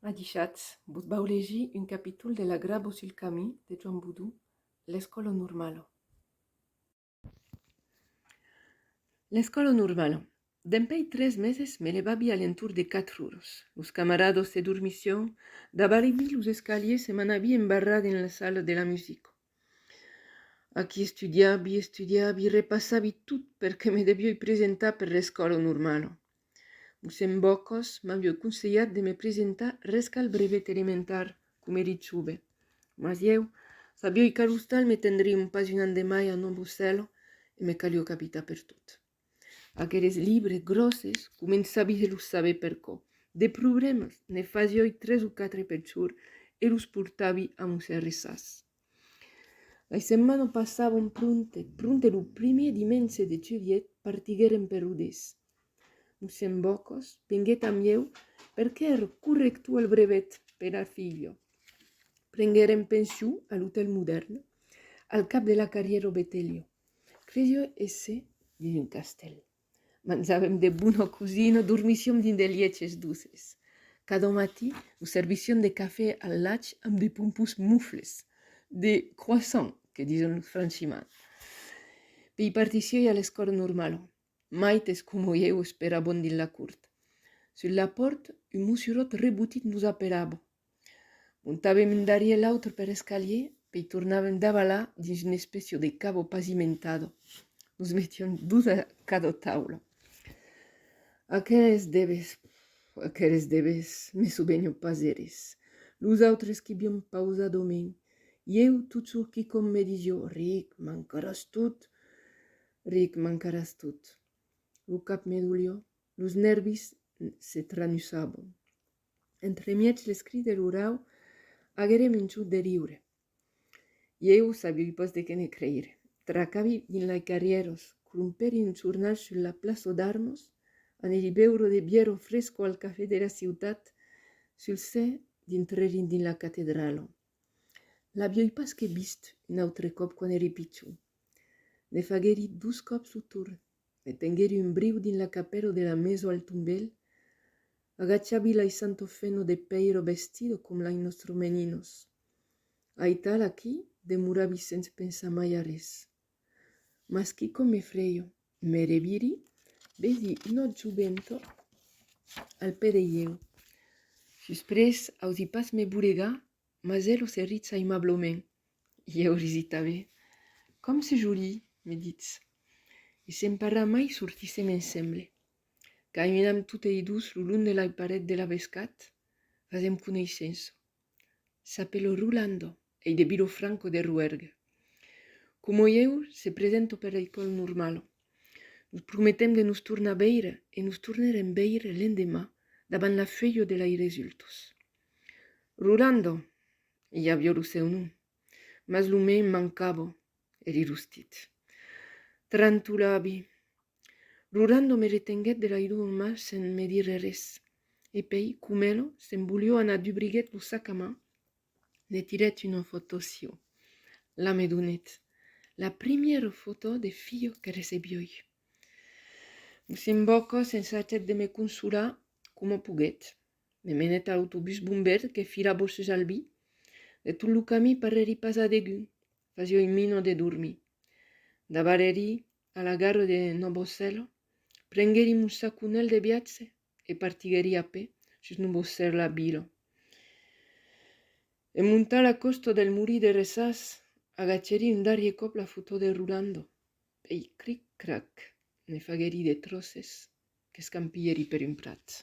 Adishatz, vos vau legir un capítol de La grabo sul camí de Joan Boudou, L'escòlo normalo. L'escòlo normalo. Dempèi tres meses me levavi a l'entorn de quatre uros. Los camarados se dormissión, davarevi los escaliers e m'anavi embarrar dins la sala de la musico. Aquí estudiabi, estudiabi, repassabi tot per que me devioi presentar per l'escòla normala. Mossèn Bòcos m'avioi conselhat de me presentar res qu'al brevet elementar, coma eri chove. Mas ieu, Fabioi Carustal, me tendrion pas un an de mai a Nòvo Cèl e me calió capitar per tot. Aqueles libres gròsses començavi se los saber per cò. De problèmas, ne fasioi tres o quatre pel jorn e los portavi a mon sèrre sas. Lei setmanas passavon pronte, pronte lo primièr dimenge de julhet partiguèrem per Rodés. Mossèn Bocòs venguèt amb ieu perque èra corrector al brevet pera filha. Prenguèrem pension a l'Otèl Modèrn, al cap de la carrièra Betelio. Cresio èsser dins un castèl. Manjàvem de bona cosina, dormissiom dins de lièches doces. Cada matí nos servission de cafè al lach amb de pompons mufles, de croissants que dison franchiments. Pei partissi a l'escòla normala, Maites coma ieu esperabon dins la cort. Sus la pòrt, un mossuròt rebotit nos aperava. Montavem un darrier l'autre per escalier, pei tornavem davalar dins un espècio de cabo pazimentado. Nos metiam dos a cada taula. Aqueles debes, aqueles debes, me sobenho pas eris. Los autres quibion pausadament. Ieu, tot sorquicòm, me disio, Ric, mancaràs tot. Ric, mancaràs tot. Lo cap me dolió, los nèrvis se tranusabon. Entremièg les cris de lo rau, aguere minçut de riure. Ieu sabioi pas de qué ne creire. Tracavi dins lai carrieros, crompèri un jornal sul la plaço d'armos, anèri beuro de bièro fresco al café de la ciutat, sul se dintrerin dins la catedralo. L'avioi pas que vist un autre còp quand èri pichon. Ne faguèri dos còps lo torn, me tenguèri un briu dins la capèla de la meso al tombèl, agachavi l'ai santo feno de pèiro vestido com l'ai nostro meninos. Aital aquí demoravi sens pensar mai a res. Mas quicò me freio, me reviri, vedi un autre jovento al pè de ieu. Susprés, ausi pas me boregar, mas elo se ritza aimablament. Ieu risi tanben. Com se joli, me ditz. E se'n parra mai sortissem ensemble. Caminam totei dos lo long de la paret de la Bescat, fasem coneissença. S'apelo Rolando, ei de Vilofranco de Ruergue. Como ieu, se presento per l'École Normale. Nos prometem de nos tornar veire e nos tornerem veire l'endemà davant la feuilho de lei resultos. Rolando, i avió lo seu nom, mas lo mei mancavo, E li rustit. Trantolabi. Rurando me retenguèt de l'aidur en man sen me dire res. E pei, comelo, se'n volió anar dubriguèt lo sac a man, ne tirèt una fotò sieu. La me donèt. La primièra fotò de filho que recebiói. Mossèn Bòca s'ensajèt de me consolar coma poguèt. Me menèt a l'autobús bombèr que filava sus Albi. De tot lo camí parrèri pas a degun. Fasió un mino de dormir. Dabarèri a la gara de Nobosserla, prenguèri mon saconèl de viatge e partiguèri a pè sus Nobosserla vila. En montar la còsta del Murí de Resàs, agachèri un darrier còp la fotó de Rolando, pèi cric-crac ne faguèri de tròces qu'escampilhèri per un prat.